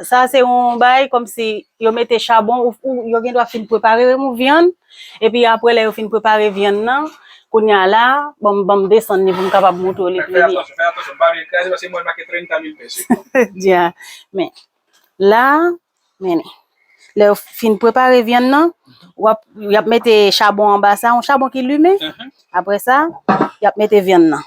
Sa se yon bay komsi yo mete chabon ou yo gen dwa fin prepare remou vyann epi apre lè yo fin prepare vyann nan kounya la bon banm desann ni pou m kapab moutre w li pi byen. Fè atansyon, pa bliye kraze paske mwen make 30 mil pèse. Dia men la men lè yo fin prepare vyann nan wap yap mete chabon anba sa yon chabon ki limen apre sa yap mete vyann nan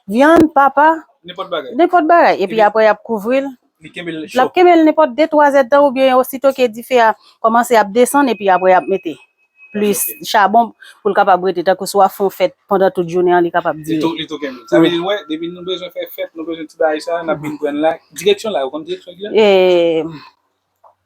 vyann papa nenpòt bagay epi apre yap kouvri l Li kenbe l cho. Lap kenbe l nenpòt 2 3 zèd tan oubyen osito ke dife a kòmanse ap desann epi aprè yap mete plis chabon pou l kapab rete tankou si wap fè yon fèt pandan tout jounen an li kapab dire. Li tou li tou kenbe l. Sa vle di wè depi nou bezwen fè fèt nou bezwen ti bagay sa nap vin pran l la. Direksyon la ou konn direksyon ki la? Eee.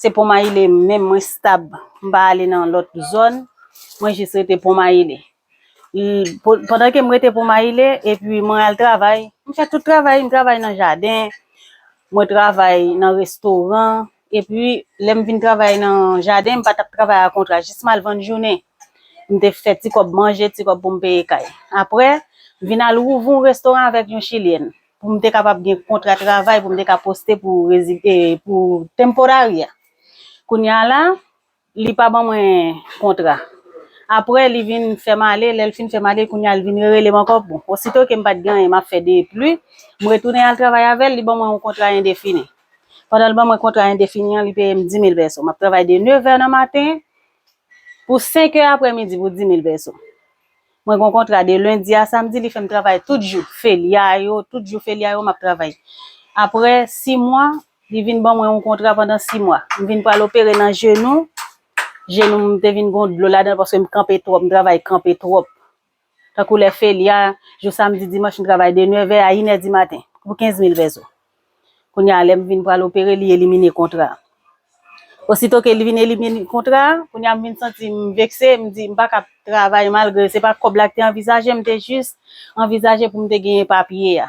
Se Ponmayile menm mwen stab, m pa ale nan lòt zòn, mwen jis rete Ponmayile. Pandan ke m rete Ponmayile, epi mwen al travay, m fè tout travay, m travay nan jaden, mwen travay nan restoran, epi lè m vin travay nan jaden, m pa t ap travay a kontra, jis m al vann jounen, m te fè ti kòb manje, ti kòb pou m peye kay. Aprè, m vin al ouvri yon restoran avèk yon chilyèn. pou m te kapab gen kontra travay pou m te ka poste pou pou temporary a kounye a la li pa ban mwen kontra aprè li vin fè m ale lè l fin fè m ale kounye a li vin rele m ankò bon osito ke m pa t gen anyen m ap fè de pli m retounen al travay avè l li ban mwen yon kontra endefini pandan l ban mwen kontra endefini an li peye m dimil pèso m ap travay de nevè nan maten pou senkè aprè midi pou dimil pèso. Mwen gon kontra de lendi a samdi li fèm travay tout jou felia yo, tout jou felia yo map travay. Aprè 6 mwa, li vin ban mwen yon kontra pandan 6 mwa. M vin pral opere nan jenou, jenou m te vin gon dlo ladan l paske m kanpe twòp, m travay kanpe twòp. Tankou lè felia, jou samdi, dimanch m travay de 9 è a 1 è di maten pou 15 mil pèso. Kounye a, lè m vin pral opere, li elimine kontra a. Osito ke li vin elimine kontra a, kounye a m vin santi m vekse, m di m pa ka ap travay malgre se pa kòb la ki te anvizaje, m te jis anvizaje pou m te genyen papye a.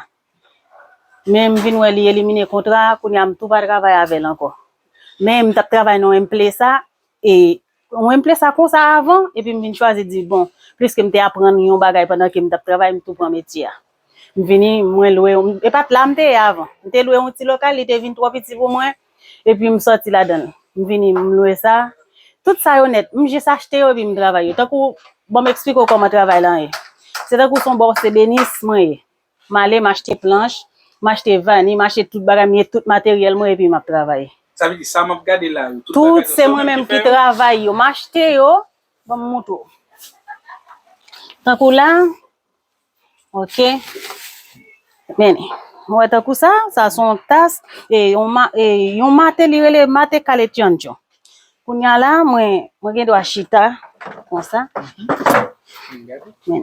Men m vin wè li elimine kontra a, kounye a m tou pa travay avè l ankò. Men m t ap travay nan enplesa e Mwen plen sa konsa avan, epi m vin chwazi di bon, pliske m te aprann yon bagay pandan ke m t ap travay, m tou pran metye a. M vini, mwen lwe, e pa t la m te ye avan. M te lwe yon ti lokal, li te vin twò piti pou mwen, epi m sòti ladan l. M vini, m lwe sa. Tout sa yo nèt, m jis achte yo epi m travay yo. Tankou, ban m esplike w kòman travay lan ye. Se tankou son bòs se benis mwen ye. M ale, m achte planch, m achte vani, m achte tout bagay, m gen tout materyèl mwen epi m ap travay. Sa vle di sa m ap gade la yo, tout bagay yo se ou menm ki fè yo? Tout se mwen menm ki travay yo. M achte yo. Ban m montre w. Tankou la, ok, men, ou wè tankou sa, sa se yon tas, yon mate li rele mate kale tyondyon. Kounye a la, mwen gen dwa chita konsa. Men.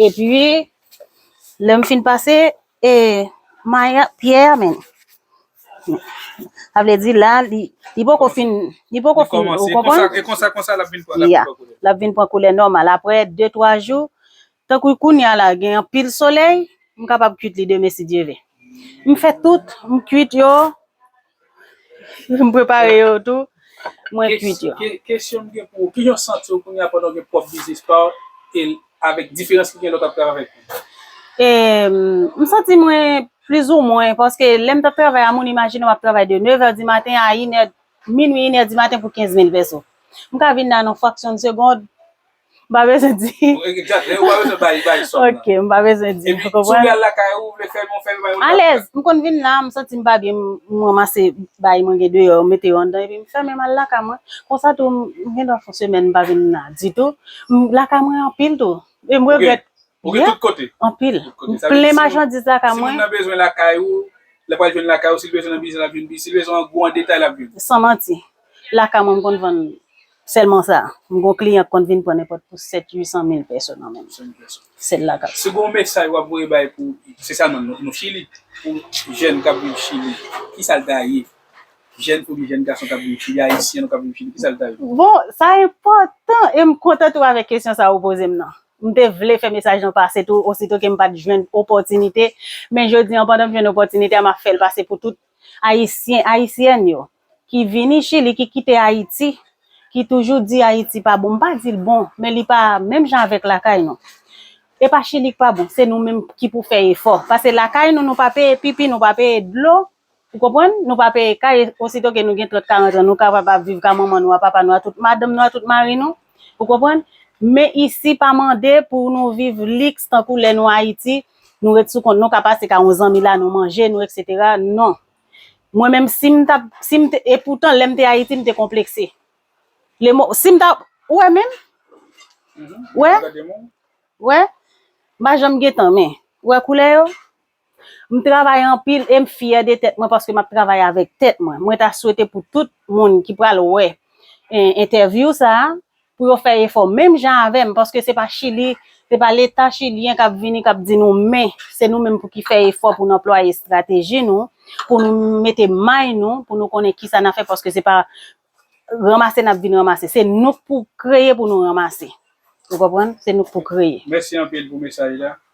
Epi, lè m fin pase e may a, pyè a men. Sa vle di la, li li poko fin, li poko fin, ou konprann? Li kòmanse, e konsa, konsa l ap vin pran, l ap vin pran koulè. L ap vin pran koulè nòmal. Aprè de twa jou, tankou kounye a la gen anpil solèy, m kapab kuit li demen si Dye vle. M fè tout, m kuit yo. M prepare yo tou, mwen kwit yo. Kesyon m gen pou ou, kijan w santi w kounya pandan w gen pwòp biznis pa w e avèk diferans ki gen lè w t ap travay pou ou? M santi mwen plizoumwen paske lè m t ap travay a moun imajine w ap travay de nevè di maten a inè, minui inè di maten pou kenz mil pèso. M ka vin la nan fraksyon de segond, M pa bezwen di. Ou pa bezwen bay bay sòm nan. Ok, m pa bezwen di. Epi, si w vle al lakay ou, ou vle fè yon fè yon bagay. Alèz, m konn vin la, m santi m pa byen, m ranmase bagay mwen gen deyò, m mete yo anndan epi m fèmen m al lakay mwen. Konsa tou, m gen dwa fè yon semèn m pa vin la ditou. Lakay mwen anpil tou. E m regrèt. Ou gen tout kote? Anpil. M plen machandiz lakay mwen. Si moun nan bezwen lakay ou, l ap al jwenn lakay ou. Si l bezwen nan biznis, l ap jwenn nan biznis. Si l bezwen an gwo, an detay, l ap jwenn. San manti. Lakay mwen m konn vann sèlman sa. M gon kliyan k konn vin pran nenpòt pou 7, 800 mil pèso nan menm. Sèl lakay. Si gon mesaj wap voye bay pou, se sa non nou chili, pou jèn kap viv chili, kisal ta ye? Jèn fi oubyen jèn gason kap viv chili, ayisyen nou kap viv chili, kisal ta ye? Bon, sa enpòtan e m kontan tou avèk kesyon sa ou poze m nan. M te vle fè mesaj lan pase tou osito ke m pat jwenn opòtinite, men jodi an pandan m jwenn opòtinite a map fèl pase pou tout ayisyen, ayisyèn yo. ki vini chili ki kite ayiti ki toujou di ayiti pa bon m pa dil bon men li pa menm jan avèk lakay nou e pa chili k pa bon se nou menm ki pou fè efò pase lakay nou nou pa peye pipi nou pa peye dlo ou konprann nou pa peye kay osito ke nou gen 30 40 an nou kapab ap viv ka manman nou a papa nou a tout madanm nou a tout mari nou ou konprann men isi pa mande pou nou viv liks tankou lè nou ayiti nou ret sou kont nou ka pase ka yon zanmi la nou manje nou etc non Mwen menm si m tap, si m t, e poutan lè m te Ayiti m te konplekse. Le mo, si m ta, ou wè menm? Ou wè? Ou wè? M pa janm gen tan men. Ou wè koulè yo? M travay anpil e m fyè de tèt mwen paske m ap travay avèk tèt mwen. Mwen ta swete pou tout moun ki pral wè entèvyou sa a, pou yo fè efò menm jan avèm paske se pa chili se pa leta chilyen kap vini kap di nou men se nou menm pou ki fè efò pou nou anplwaye estrateji nou pou nou mete may nou pou nou konnen kisa na fè paske se pa ranmase nap vin ranmase se nou pou kreye pou nou ranmase ou konprann se nou pou kreye. Mèsi anpil pou mesaj la.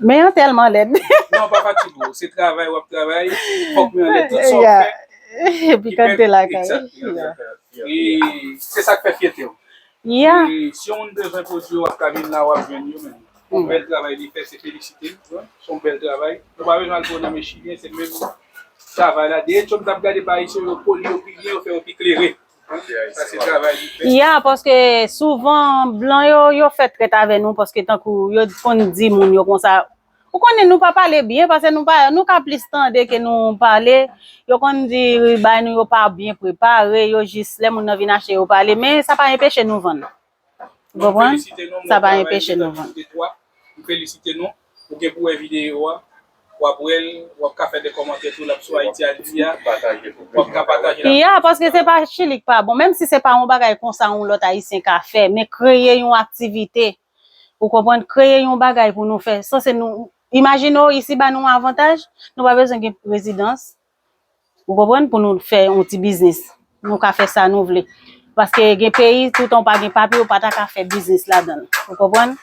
Men yo tèlman lèd. Non pa pati pou ou, se travay wap travay, fòk men anlè tout sa ou fè. Yeah, epi kòm te lakay. E se sak fè fyète ou. Yeah. E si yon moun bezwen pwodwi yo wap ka vin la wap jwenn yo menm. Yon bèl travay li fè se felisite l, son bèl travay. Ou pa bezwen al pou nan men chilyen se menm travay la. Dèyè chòm tap gade pa ayisyen yo poli yo pi byen yo fè yo pi klere. Ya paske souvan blan yo yo fè trèt avè nou paske tankou yo konn di moun yo konsa ou konnen nou pa pale byen paske nou pa nou ka plis tande ke nou pale yo konn di bay nou yo pa byen prepare yo jis lè moun nan vin achte yo pale men sa pa enpeche nou vann M konprann, sa pa enpeche nou vann. M felisite nou, ou gen pou wè videyo a, wap wèl, wap ka fè de kòmantè tou lap sou Ayiti Adikti a, wap ka pataje l. Ya, paske se pa chili k pa bon, menm si se pa yon bagay konsa yon lòt ayisyen ka fè, men kreye yon aktivite, ou konprann, kreye yon bagay pou nou fè, sanse nou, imajine w isi ba nou avantaj, nou pa bezwen gen rezidans. Ou konprann pou nou fè yon ti biznis. Nou ka fè sa nou vle. Paske gen peyi toutan ou pa gen papye ou pa ta ka fè biznis ladan. Ou konprann?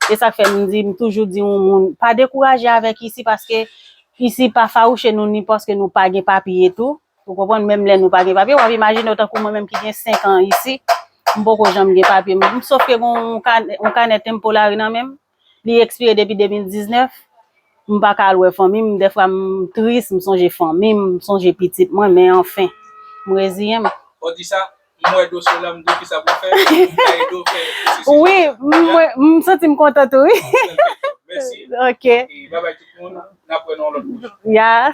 E sa k fè m di m toujou di yon moun pa dekouraje avèk isi paske isi pa fawouche nou ni paske nou pa gen papye tou. Ou konprann? Menm lè nou pa gen papye. W ap imajine w tankou mwen menm ki gen senkan isi. M poko janm gen papye. M sofke gen yon kanè tenpolari nan men m. Li ekspire depi 2019, m pa ka al wè fanmi m, dèfwa m tris, m sonje fanmi m, m sonje pitit mwen, men anfen, m reziyen m. Ou di sa, m wè do Solange, m di w kisa pou m fè, m ka ede w fè pwosesis la. Wi, m santi m kontan tou wi. Mèsi. Ok. Babay tout moun, n ap wè nan yon lòt pwojè. Ya.